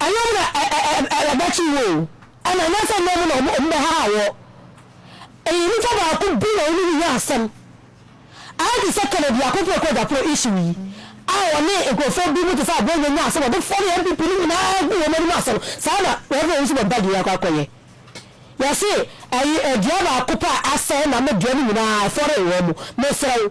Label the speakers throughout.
Speaker 1: Anyɛ ɔmo na ɛbɛkye wo o, ɛna anyɛ sɛ nyɛ ɔmo na ɔmo bɛhaha wo. Ɛyɛ nipa baako bi na ɔne no nya asɛm. Ayɛ te sɛ Kennedy Akopoe Kwagyaporɔ issue yi a ɔne nkorɔfoɔ bi mo te sɛ Aboagye nya asɛm a ɔde fɔre NPP no nyinaa guu wɔn anim asɛm no, saa na Rev Owusu Bompah Gyeyɛ akɔ akɔyɛ. Yɛse ɛyi dua baako pɛ a asɛe na me dua no nyinaa ɛfɔree wɔn mo. Mesrɛ wo.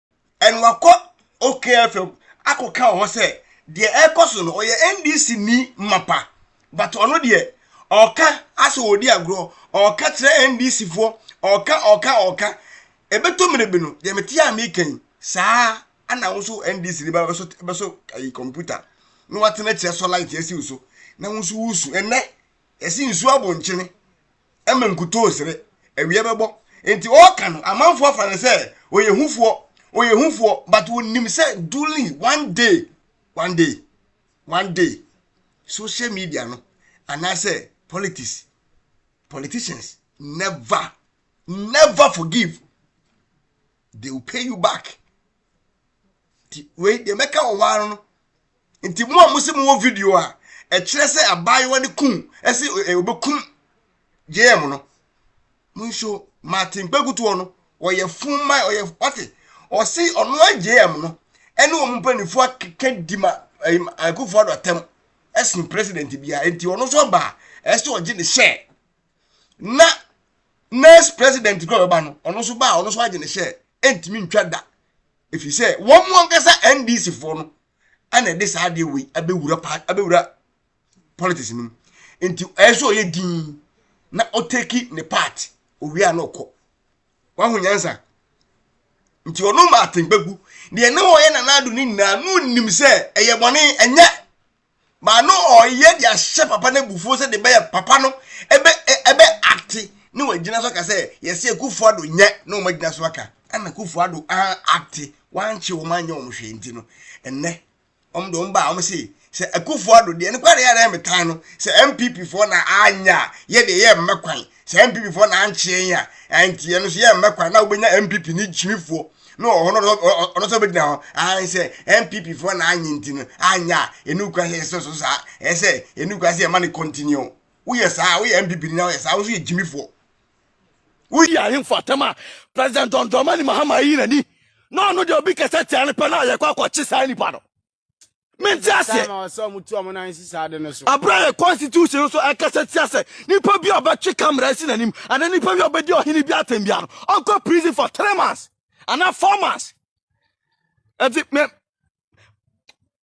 Speaker 1: ɛna
Speaker 2: wakɔ okfm akɔka wɔ hɔ sɛ deɛ ɛrekɔ so no ɔyɛ ndc ni mapa but ɔno deɛ ɔka asɛ ɔdi agorɔ ɔka kyerɛ ndc foɔ ɔka ɔka ɔka ɛbɛtɔ mmere bi no deɛ mete a meka yi saa ana wo nso ndc ni ba bɛso bɛso ayi kɔmputa na watena kyerɛ sɔ light asi wo so na wo nso wusu ɛnɛ yɛsi nsu abɔnkyene ma nkutoo sere, awia bɛbɔ. Nti ɔɔka no, amanfoɔ afa no sɛ ɔyɛ hufoɔ, ɔyɛ hufoɔ, but wɔnim sɛ duly one day, one day, one day, social media no, anaasɛ politics, politicians never, never forgive. They will pay you back. Nti wei deɛ mɛka wɔ hɔ ara no, Nti mo a mo se mo wɔ video a ɛkyerɛ sɛ abaayewa no kun ɛse obekum JM no mo nso Martin Kpekutuo no ɔyɛ fun ma ɔyɛ ɔte ɔse ɔno a JM no ɛne wɔn mpanyinfoɔ akeka di ma Akufo-Addo atɛm ɛsen president bia nti ɔno nso ɔbaa ɛse ɔgye ne share. na next president kura bɛba no ɔno nso baa ɔno nso agye ne hyɛ ɛntumi ntwa da ɛfiri sɛ wɔn mu ankasa ndc foɔ no ɛna ɛde saa adeɛ wei abɛwura pa abɛwura politics no mu nti ɛyɛ sɛ ɔyɛ din na ɔteki ne part owie a na ɔkɔ wahu nyansa nti ɔno ma atempa gu deɛ na wɔyɛ nanaado no nyinaa na ɔnim sɛ ɛyɛ bɔne ɛnyɛ But no ɔyɛ de ahyɛ papa no abufuo sɛ de bɛyɛ papa no ɛbɛ ɛbɛ acte ne wagyina so aka sɛ yɛsɛ akufo ado nyɛ na wɔn agyina so aka ɛna akufo ado an acte wankye wɔn anyɛ wɔn hwee nti no ɛnɛ wɔn de wɔn ba a wɔn se sɛ akufo ado deɛ ne kware yɛ ɛna metan no sɛ npp foɔ na anya yɛ deɛ yɛ mmɛ kwan sɛ npp foɔ na ankyeɛ yɛn a ɛnti yɛn nso yɛmmɛ kwa na wobɛnya npp ne gyimi foɔ na ɔno ɔno sɛ ɔbɛgyina hɔ an sɛ npp foɔ na anye nti no anyɛ a ɛnu kwa sɛ ɛsɛ so saa ɛsɛ ɛnu kwa sɛ ɛma ne continue woyɛ saa woyɛ npp ni na woyɛ saa wo nso yɛ gyimi foɔ
Speaker 3: woyi ahemfo atɛm a president dɔndɔmani mahama ayi n'ani na ɔno deɛ obi kɛsɛ tia no pɛ na yɛkɔ akɔkye saa nipa no mente aseɛ
Speaker 4: aberɛ yɛ
Speaker 3: constitution nso ɛkasa tia sɛ nipa bi a ɔbɛtwe kamera si n'anim anaa nipa bi a ɔbɛdi ɔhene bi atɛm bia no ɔnkɔ prison for three months anaa four months ɛti me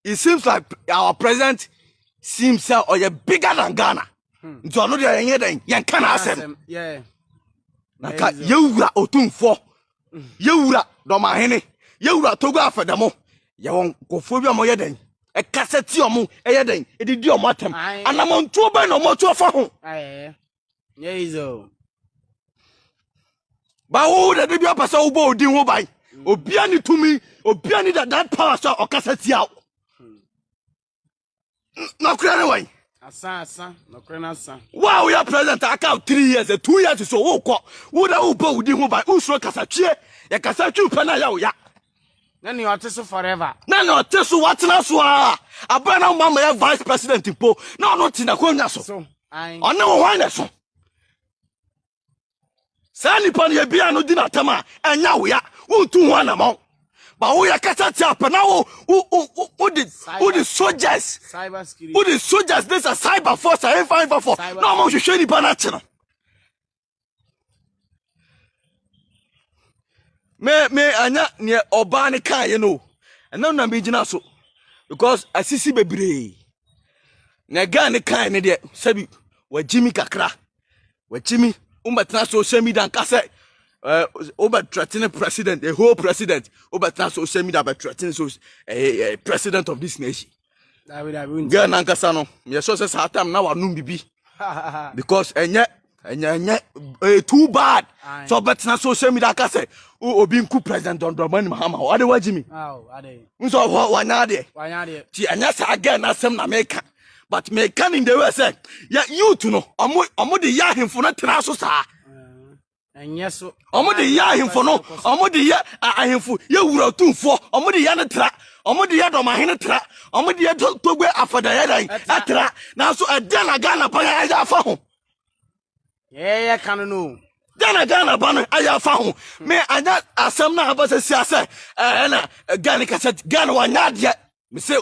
Speaker 3: it seems like our president seems sɛ ɔyɛ bigger than ghana hmm. nti ɔno deɛ yɛnyɛ dɛn yɛnka n'asɛm na ka yɛwura ɔtumfoɔ yɛwura dɔmahene yɛwura togo afɛdɛmo yɛwɔ nkɔfoɔ bi a wɔyɛ dɛn ɛkasa ti ɔmo ɛyɛ dɛn ɛdidi ɔmo atɛm anamantuo bɛn na ɔmo atu afa ho bawo na de bi apɛ sɛ wobɔ odin ho ban obia ne tumi obia ne that power so a ɔkasa tia wo nɔkorɛ ne wɔn
Speaker 4: wo a woyɛ president
Speaker 3: aka three years eh, two years so wokɔ wona wobɔ wodi ho ban wosuro kasa twie yɛkasa twiw pɛ no ayɛ wo ya na ne
Speaker 4: ɔte so forever na ne ɔte so
Speaker 3: watena so a aberɛ na woma mayɛ vice president mpo na ɔno te nakɔnwa so ɔne wo hwan na so saa nipa no yɛ bia no di n'atam a ɛnya wea wontu ho anamɔ ba woyɛ kasa tia pɛ na wo wode wode soldiers wode
Speaker 4: soldiers ne sɛ
Speaker 3: cyber force a ɛmfa mfa fo na ɔmo hwehwɛ nipa no akye no me me anya neɛ ɔbaa no kaeɛ no ɛnam na megyina so because asisi bebree na ɛgaa ne kae no deɛ sɛbi wagyimi kakra wakyimi wobɛtena social media nka sɛ eh, wobɛtrɛtene president the whole president wobɛtena social media bɛtrɛtene so eh, eh, president of this nation girl nankasa no meyɛsɛ sɛ saa time na wanom bibi because ɛnyɛ ɛnyɛ ɛnyɛ ɛyɛ too bad sɛ ɔbɛtena social media ka sɛ obi nku president dɔndɔnmani mahama ɔde wagye mi nso
Speaker 4: ɔhɔ wanya
Speaker 3: adeɛ ti ɛnyɛ saa gɛn n'asɛm na meka but me can in the way say ya youth no omo omo de ya hemfo no tena so saa ɛnyɛ
Speaker 4: so omo de ya hemfo
Speaker 3: no omo de ya ahemfo ya wura tumfo omo de ya ne tra omo de ya doma hene tra omo de ya togbe afada ya dan atra na so ɛdɛ na Ghana pa ya ya fa ho eh
Speaker 4: ya kan no Ghana Ghana ba no
Speaker 3: ayɛ afa ho me anya asɛm na abasa sia sɛ ɛna Ghana kasa Ghana wanya adeɛ mese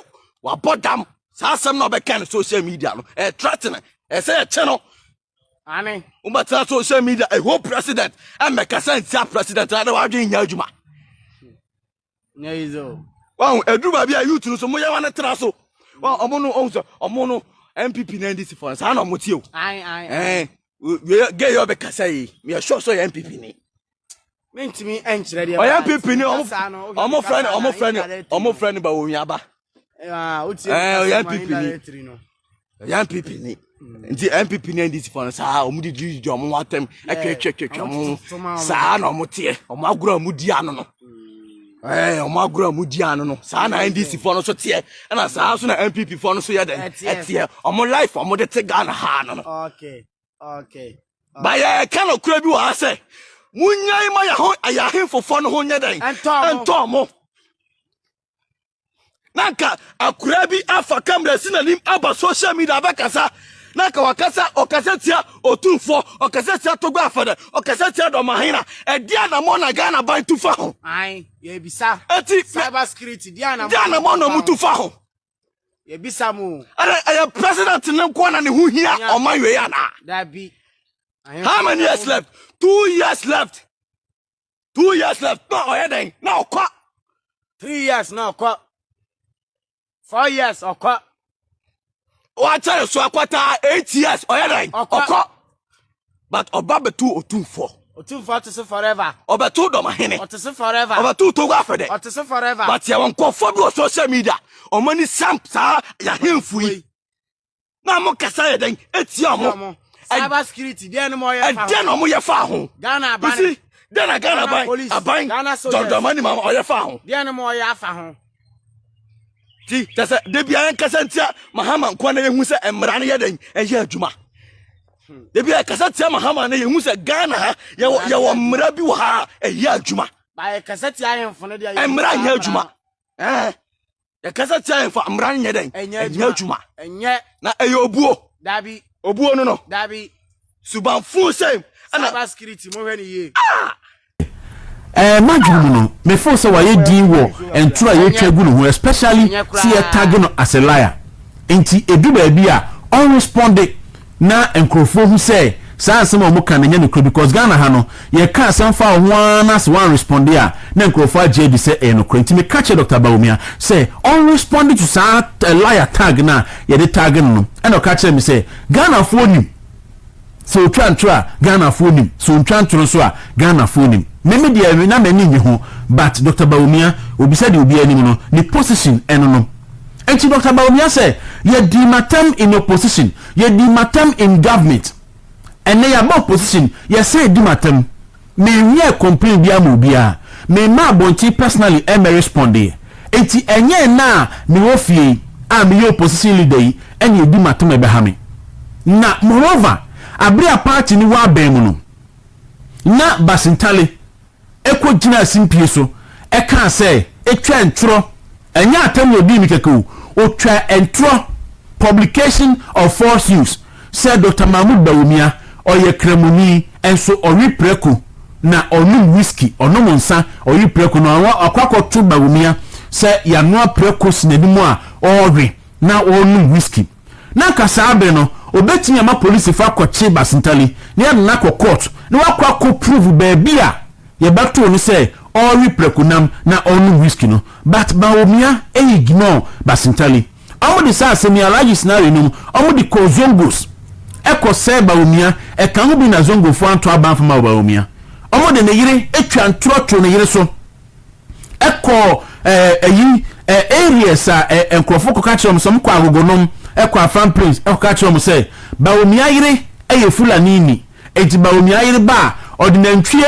Speaker 3: wabɔ dam saa asɛm na ɔbɛka no social media no ɛtratene eh, ɛsɛ eh, yɛkyɛ no ane
Speaker 4: wobɛtena social
Speaker 3: media ɛho eh, president ɛmmɛka eh, sɛ ntia president na de wadwen nya adwuma
Speaker 4: wahu ɛduru baabi
Speaker 3: a youth no so moyɛ wane tra so ɔmo no ɔhu sɛ ɔmo no npp na ndc fɔ saa na ɔmo tie o gay ɔbɛkasa yi meyɛ sure sɛ ɔyɛ npp ni mentumi
Speaker 4: nkyerɛ deɛ ɔyɛ npp ne
Speaker 3: ɔmo frɛ ne ɔmo frɛ ne ɔmo frɛ ne ba owiaba
Speaker 4: ɔyɛ npp ne
Speaker 3: ɔyɛ npp ne nti npp ne ndc fɔ no saa ɔmo di di di ɔmo ho atɛm ɛtwɛtwɛtwɛtwɛ ɔmo ho saa na ɔmo teɛ ɔmo agorɔ ɔmo di ano no ɛɛ ɔmo agorɔ ɔmo di ano no saa na ndc fɔ no so teɛ ɛna saa so na npp fɔ no so yɛ dɛ ɛteɛ ɔmo life ɔmo de te ghana ha no no.
Speaker 4: ba
Speaker 3: yɛka nokora bi wɔ ha sɛ monyae ma yɛ ahemfofoɔ no ho nyɛ dɛn ɛntɔɔ mo na nka akora bi afa kamera si n'anim aba social media abɛkasa na nka wakasa ɔkasa tia otumfoɔ ɔkasa tia togba afɛdɛ ɔkasa tia dɔmahena ɛde anamɔ na ghana ban tu fa ho
Speaker 4: ɛti de anamɔ na ɔmo tu fa ho
Speaker 3: yɛbisa
Speaker 4: mo. ɛnna ɛyɛ president
Speaker 3: ne nkoa na ne ho hia ɔman wei anaa. dabi.
Speaker 4: how many
Speaker 3: years left two years left two years left na ɔyɛ dɛn na ɔkɔ. three
Speaker 4: years na ɔkɔ four years ɔkɔ.
Speaker 3: wakyɛre so akɔtaa eight years ɔyɛ dɛn ɔkɔ. But ɔba bɛtoo otumfoɔ. Otumfoɔ ɔte se forever.
Speaker 4: Ɔbɛtoo dɔmahene.
Speaker 3: Ɔte se forever. Ɔbɛtoo
Speaker 4: togo afɛdɛ.
Speaker 3: Ɔte se forever. But
Speaker 4: yɛwɔ nkurɔfoɔ bi wɔ
Speaker 3: social media ɔmo ani sam saa yɛahemfo yi na ɔmo kasa yɛ dɛn etia ɔmo. Cyber security
Speaker 4: deɛ na ɔmo yɛ fa ho. Ɛdeɛ na ɔmo yɛ fa ho.
Speaker 3: Ghana aban. Bisi
Speaker 4: deɛ na Ghana aban
Speaker 3: aban dɔndɔnma ni ma ɔyɛ fa ho. Deɛ na ɔmo yɛ afa ho. Ti kyɛ sɛ debia yɛn kasa ntia Mahama nkoa na yɛn hu sɛ mmara no yɛ dɛn ɛyɛ adwuma. ebi a ɛkasa tia ma hama no yɛhu sɛ ghana ha yɛwɔ mmara bi wɔ ha a ɛyɛ adwuma
Speaker 4: mmara nyɛ adwuma
Speaker 3: yɛkasa tia ahemfo a mmara no nyɛ dɛn ɛnyɛ adwuma na ɛyɛ
Speaker 4: obuo
Speaker 3: obuo
Speaker 4: no no subanfo
Speaker 3: sɛm
Speaker 4: ɛna Ɛɛ
Speaker 5: m'adwene mu no me feel sɛ wayɛ din wɔ ntoro a yɛtwa gu ne ho especially sɛ yɛ tag no as a liar nti ɛdu baabi a ɔn responde na nkorɔfoɔ hu sɛ saa nsɛm a wɔka no nyɛ nokorɛ because Ghana ha no yɛka asɛm fa wo ho ara na sɛ wan responde a na nkorɔfoɔ agye adi sɛ ɛyɛ nokorɛ nti meka kyerɛ Doctor Bawumia sɛ ɔn responde to saa liar tag no a yɛde tag no no ɛna ɔka kyerɛɛ me sɛ Ghanafoɔ nim Sɛ otwa ntoro a Ghanafoɔ nim, sɛ ontwa ntoro nso a Ghanafoɔ nim. Me me deɛ na m'ani nnye ho but Doctor Bawumia obisa deɛ obiara nim no, ne position ɛno no nti Doctor Bawumia sɛ yɛdii matam in opposition, yɛdii matam in government, ɛnnɛ yɛaba opposition yɛsan adi matam. Me nwiɛ complain biaa ma obiaa me mma abonten personally ɛmɛ respondeɛ nti ɛnyɛ ɛnɛ a me wɔ fie yi a me yɛ opposition leader yi ɛna ɛdi matom ɛbɛha me na moreover abere a party no wɔ abɛn mu no na Bassey Ntale ɛkɔ gyinaa asimpie so ɛkaa sɛ ɛtwa ntorɔ ɛnyɛ atɛm na ɔdii me kɛkɛ o ɔtwa ntorɔ publication of false news. Sɛ Dɔkta Mahmood Bawumia, ɔyɛ Kramoni, nso ɔwe prako na ɔnom whisky, ɔnom nsa, ɔwe prako na wakɔ akɔto Bawumia sɛ yanoa prako si n'anim a ɔrewe na ɔrenom whisky. Na anka saa bere no obetumi ama polisifo akɔkye Basintali na yɛde no akɔ court na wakɔ akɔ prove baabi a yɛbɛtoo no sɛ ɔrewe prakonam na ɔrenom whisky no but Bawumia ignore Basintali. Ɔmo de saa asɛm yi, Alhaji Sinari nom, ɔmo de kɔɔ Zongos ɛkɔ sɛɛ Bawumia, ɛka ho bi na Zongofoɔ anto aba amfa ma Bawumia. Ɔmo de ne yere atwa ntorɔ too ne yere so ɛkɔɔ ɛɛ ayi ɛɛ areas a ɛɛ nkorɔfoɔ kɔka kyerɛ ɔmo sɛ ɔmo kɔ Agogonom, ɛkɔ Afan Plains ɛkɔka kyerɛ ɔmo sɛ Bawumia yere ɛyɛ Fulanini. Enti ma onua yere ba a ɔde nantwie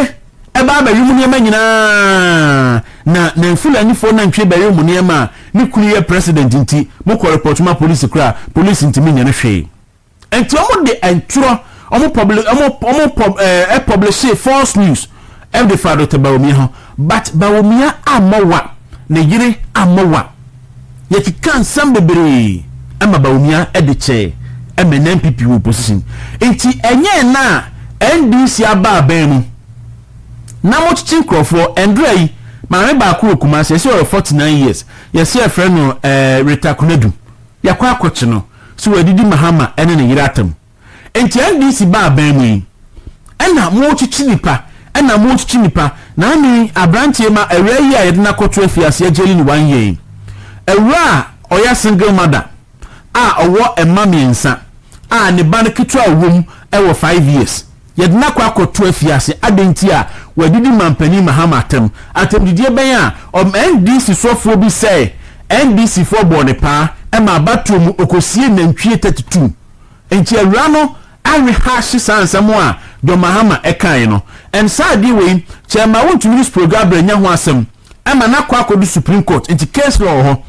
Speaker 5: ba abɛwe mu nneɛma nyinaa, na Nanfulanifo nantwie bɛwe mo nneɛma a ne kunu yɛ president nti mokɔ report ma police koraa a, police ntumi nyɛ no hwee. Enti wɔde twerɛ, wɔn publi, wɔn, wɔn pub, eh, publishee false news ɛde fa Doctor Bawumia ho but Bawumia ammɔ wa, ne yere ammɔ wa. Yɛkekaa nsɛm bebree ɛma Bawumia ɛde kyɛɛ ɛma NNPP wɔ position. Nti ɛnyɛ ɛnnɛ a NDC aba aban mu na mokyekye nkorɔfoɔ. Ɛndura yi maame baako wɔ Kumasi yɛse ɔyɛ 49 years yɛse yɛfrɛ no ɛɛ Rita Konadu. Yɛakɔ akɔkye no. So wadidi Mahama ɛne ne yere atam. Nti NDC ba aban mu yi ɛna mo kyekye nipa ɛna mo kyekye nipa na me yi abranteɛ ma awia yi a yɛde no akɔto afiaseɛ gyeli ne one year yi awura a ɔyɛ single mother a ɔwɔ mma miensa a ne ba no ketewa a ɔwɔ mu ɛwɔ five years yɛde no akɔ akɔto afiase adɛn nti a wɔadidi manpanin Mahama atɛm atɛmdidie bɛn a ɔm NDC soɔfoɔ bi sɛɛ NDC foɔ bɔɔ ne paa ɛma abatoɔ mu ɔkɔsiee nantwie thirty two Enti awuraa no arehaahye saa nsɛm a John Mahama kaeɛ no. Ɛnn saa adeɛ wei kyɛɛ ma wontumi ne Sprogabre annya ho asɛm ma no akɔ akɔdu Supreme Court. Nti case law wɔ hɔ.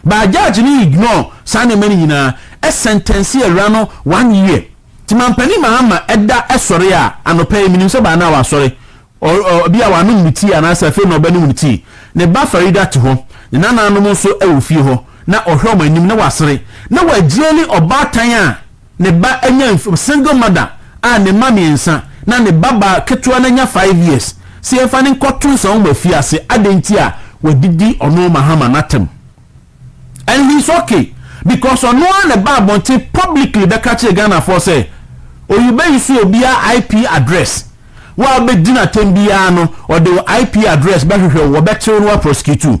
Speaker 5: But judge no ignore saa nneɛma no nyinaa, ɛsɛntɛnsee awuraa no one year. Nti Mampanin Mahama da sɔre a anɔpa yi, menim sɛ by now wasɔre, Ɔ, ɔ, bi a wanom ne tii anaasɛ afei na ɔbɛnom ne tii. Ne ba Farida te hɔ, ne nananom nso wɔ fie hɔ, na ɔhwɛ wɔn anim na wasere. Na Wajia ne ɔbaatan a ne ba anya mf, single mother a ne mma mmiɛnsa, na ne babaa ketewa no anya five years. Sɛ yɛmfa no nkɔto nsawoma fie ase, adɛn nti a wɔadidi ɔno Mahama no atɛm? and he is okay because ɔno ara na ɛba abɔnten publicly bɛka kyerɛ Ghanafoɔ sɛ Oyuba yi so obiara IP address wo a wobɛdi no atɛm biara no ɔde wo IP address bɛhwehwɛ wo wɔbɛkye wo na wɔaprosecute wo.